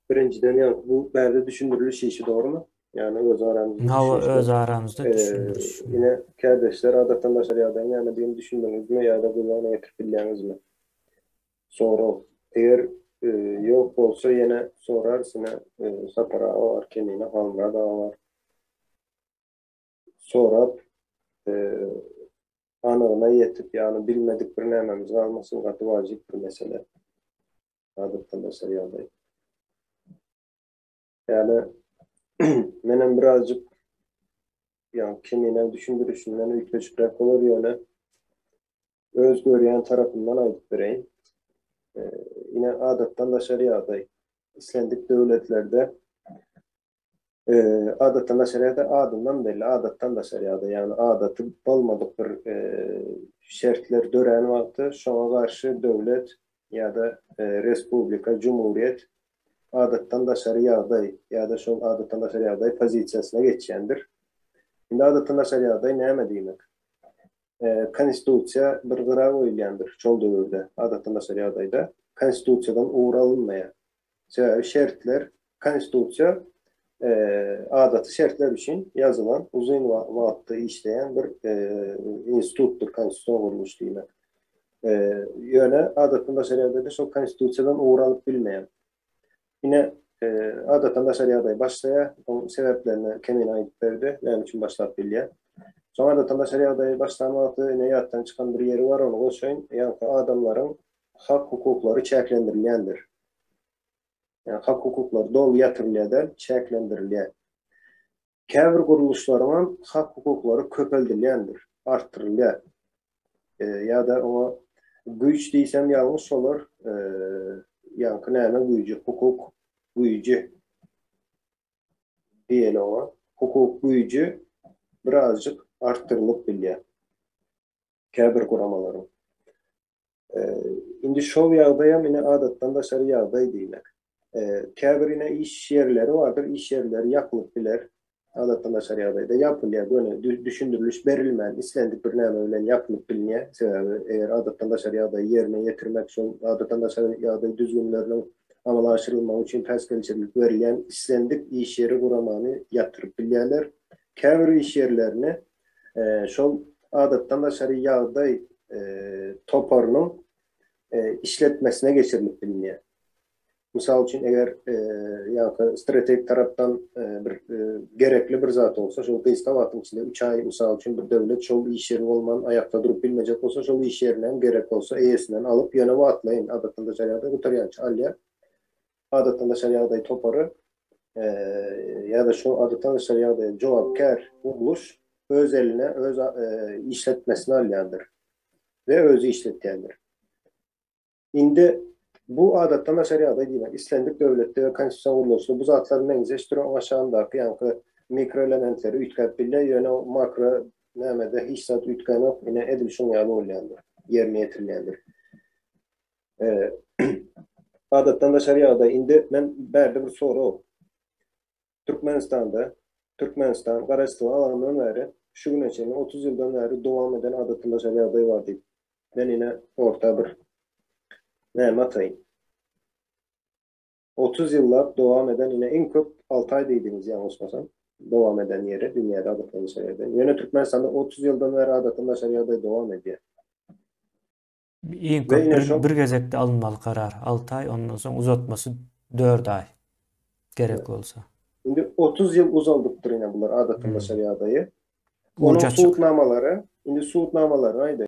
Birinjiden ýa bu bärde düşündiriliş işi dogrymy? Ýagny öz aramyzda. Hawa öz aramyzda düşündiriş. Ine kärdeşler adatdan daşary ýagdaýyň nämedigini düşündiňizmi ýa-da göz öňüne getirip bilýäňizmi? Sorag. Eger ýok bolsa ýene sorarys ine Sapar aga bar, Kemine, Halmyrat aga bar. sorap, anygyna ýetip, ýagny bilmedik bir nämemiz galmasyn, gaty wajyp bir mesele. Adatdan daşary ýagdaý. Ýagny, menem birazjyk, ýagny Kemineň düşündirişinden üýtgeşikräk bolar, ýöne öz görýän tarapymdan aýdyp bereýin. Ine, adatdan daşary ýagdaý. Islendik döwletlerde Adatdan daşary ýa-da adyndan belli, adatdan daşary ýagdaý, ýagny adaty bolmadyk bir şertler dörän wagty şoňa garşy döwlet ýa-da respublika, jumhuriýet adatdan daşary ýagdaý ýa-da şol adatdan daşary ýagdaý pozisiýasyna geçýändir. Indi adatdan daşary ýagdaý näme diýmek? Konstitusiýa bir gyra goýulýandyr şol döwürde, adatdan daşary ýagdaýda Konstitusiýadan ugur alynmaýar. Sebäbi şertler, Konstitusiýa adaty şertler üçin ýazylan, uzyn wagtda işleýän bir institutdyr konstitusion gurluş diýmek. Ýöne adatdan daşary ýagdaýda şol Konstitusiýadan ugur alyp bilmeýär. Ine, adatdan daşary ýagdaý başlaýar. Onuň sebäplerini Kemine aýdyp berdi, näme üçin başlap bilýär. Soň adatdan daşary ýagdaý başlan wagty ine ýatdan çykan bir ýeri bar, ony goşaýyn. Ýaňky adamlaryň hak-hukuklary çäklendirilýändir. Ýa hak-hukuklary doly ýatyrylýar däl, çäklendirilýär. Käbir gurluşlaryň hem hak-hukuklary köpeldilýändir, artdyrylýar. Ýa-da oňa güýç diýsem ýalňyş bolar, ýaňky näme güýji, hukuk güýji diýeli oňa. Hukuk güýji birazjyk artdyrylyp bilýär käbir guramalaryň. Indi şol ýagdaýam ine adatdan daşary ýagdaý diýmek. Käbir ine iş ýerleri bardyr, iş ýerleri ýapylyp biler. Adatdan daşary ýagdaýda ýapylýar, göni düşündiriliş berilmän, islendik bir näme bilen ýapylyp bilner. Sebäbi eger adatdan daşary ýagdaýy ýerine ýetirmek üçin adatdan daşary ýagdaý düzgünleriniň amala aşyrylmagy üçin päsgelçilik berilýän islendik iş ýeri guramany ýapdyryp bilýärler. Käbir iş ýerlerini şol adatdan daşary ýagdaý toparynyň işletmesine geçirilip bilinýär. Mysal üçin, eger ýa-da strategik tarapdan bir gerekli bir zat bolsa, şol gysga wagtyň içinde, üç aý, mysal üçin, bir döwlet şol iş ýeri bolman, aýakda durup bilmejek bolsa, şol iş ýerini hem gerek bolsa, eýesinden alyp, ýöne wagtlaýyn, adatdan daşary ýagdaý gutarýança alýar. Adatnaşar ýagdaý topary ýa-da şu adatnaşar ýagdaýa jogapkär gurluş öz eline öz işletmesini alýandyr we özi işletýändir. Indi bu adatnaşar ýagdaý diýmek islendik döwletde we konstitusion gurluşda bu zatlar meňzeş duran oňa şandaky ýaňky mikroelementleri üýtgäp bilýär, ýöne makro nämede hiç zat üýtgänok, ine edil şuň ýaly bolýandyr, ýerine ýetirilýändir. Adatdan daşary ýagdaý. Indi men bärde bir sorag. Türkmenistanda, Türkmenistan, Garaşsyzlygyň alanyndan bäri, şu güne çenli, otuz ýyldan bäri dowam eden adatdan daşary ýagdaý bar diýip, men ine orta bir näme ataýyn. Otuz ýyllap dowam eden, ine iň köp alty aý diýdiňiz ýalňyşmasam, dowam eden ýeri dünýäde adatdan daşary ýagdaý. Ýöne Türkmenistanda otuz ýyldan bäri adatdan daşary ýagdaý dowam edýär. Iň köp bir gezekde alynmaly karar alty aý, ondan soň uzatmasy dört aý gerek bolsa. Indi otuz ýyl uzaldypdyr ine bular adatyndaşar ýagdaýy. Onuň subutnamalary, indi subutnamalaryny aýdaýyn.